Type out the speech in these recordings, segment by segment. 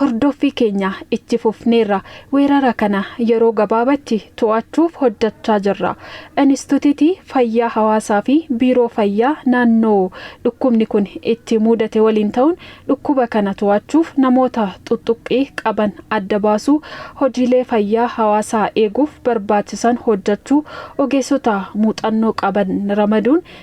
Hordoffii keenya itti fufneerra. Weerara kana yeroo gabaabatti to'achuuf hojjachaa jirra. Inistutitii Fayyaa Hawaasaa fi Biiroo Fayyaa naannoo dhukkubni kun itti muudate waliin ta'uun dhukkuba kana to'achuuf namoota xuxxuqqii qaban adda baasuu, hojiilee fayyaa hawaasaa eeguuf barbaachisan hojjachuu, ogeessota muuxannoo qaban ramaduun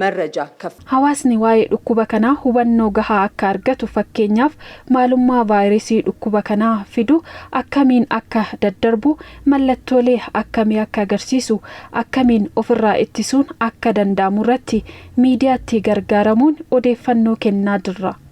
Marraja kaf. Hawaasni waa'ee dhukkuba kanaa hubannoo gahaa akka argatu fakkeenyaaf maalummaa vaayirasii dhukkuba kanaa fidu, akkamiin akka daddarbu, mallattoolee akkamii akka agarsiisu, akkamiin ofirraa ittisuun akka danda'amurratti miidiyaatti gargaaramuun odeeffannoo kennaa jirra.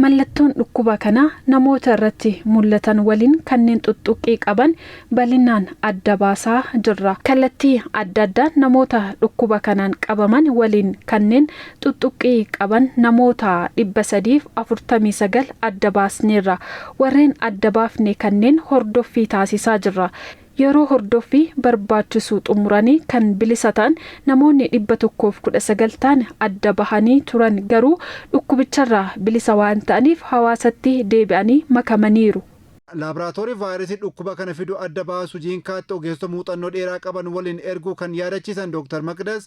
Mallattoon dhukkuba kanaa namoota irratti mullatan waliin kanneen xuxxuqqii qaban balinaan adda baasaa jirra. Kallattii adda addaan namoota dhukkuba kanaan qabaman waliin kanneen xuxxuqqii qaban namoota 349 adda baasneerra. Warreen adda baafne kanneen hordoffii taasisaa jirra. Yeroo hordoffii barbaachisu xumuranii kan bilisa ta'an namoonni 119 ta'an adda bahanii turan garuu dhukkubicharraa bilisa waan ta'aniif hawaasatti deebi'anii makamaniiru. Laaboraatoorii vaayirasii dhukkuba kana fidu adda baasu Jiinkaatti ogeessota muuxannoo dheeraa qaban waliin erguu kan yaadachiisan Dooktar Maqdas,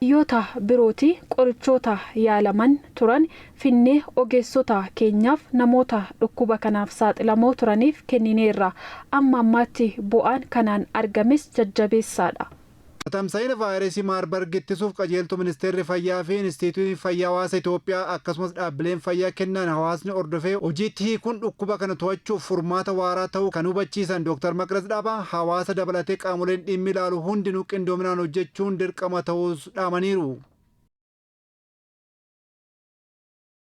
biyyoota birooti qorichoota yaalaman turan finnee ogeessota keenyaaf namoota dhukkuba kanaaf saaxilamoo turaniif kennineerra. Amma ammaatti bu'aan kanaan argames jajjabeessaadha. Tatamsa'ina Vaayirasii Maarbarg ittisuuf qajeeltoo Ministeerri Fayyaa fi Inistiitiyuutiin Fayyaa Hawaasa Itoophiyaa akkasumas dhaabbileen fayyaa kennaan hawaasni hordofee hojiitti hiikuun dhukkuba kana to'achuuf furmaata waaraa ta'uu kan hubachiisan Dooktar Maqdas Dhaabaa, hawaasa dabalatee qaamoleen dhimmi ilaalu hundinuu qindoominaan hojjechuun dirqama ta'uus dhaamaniiru.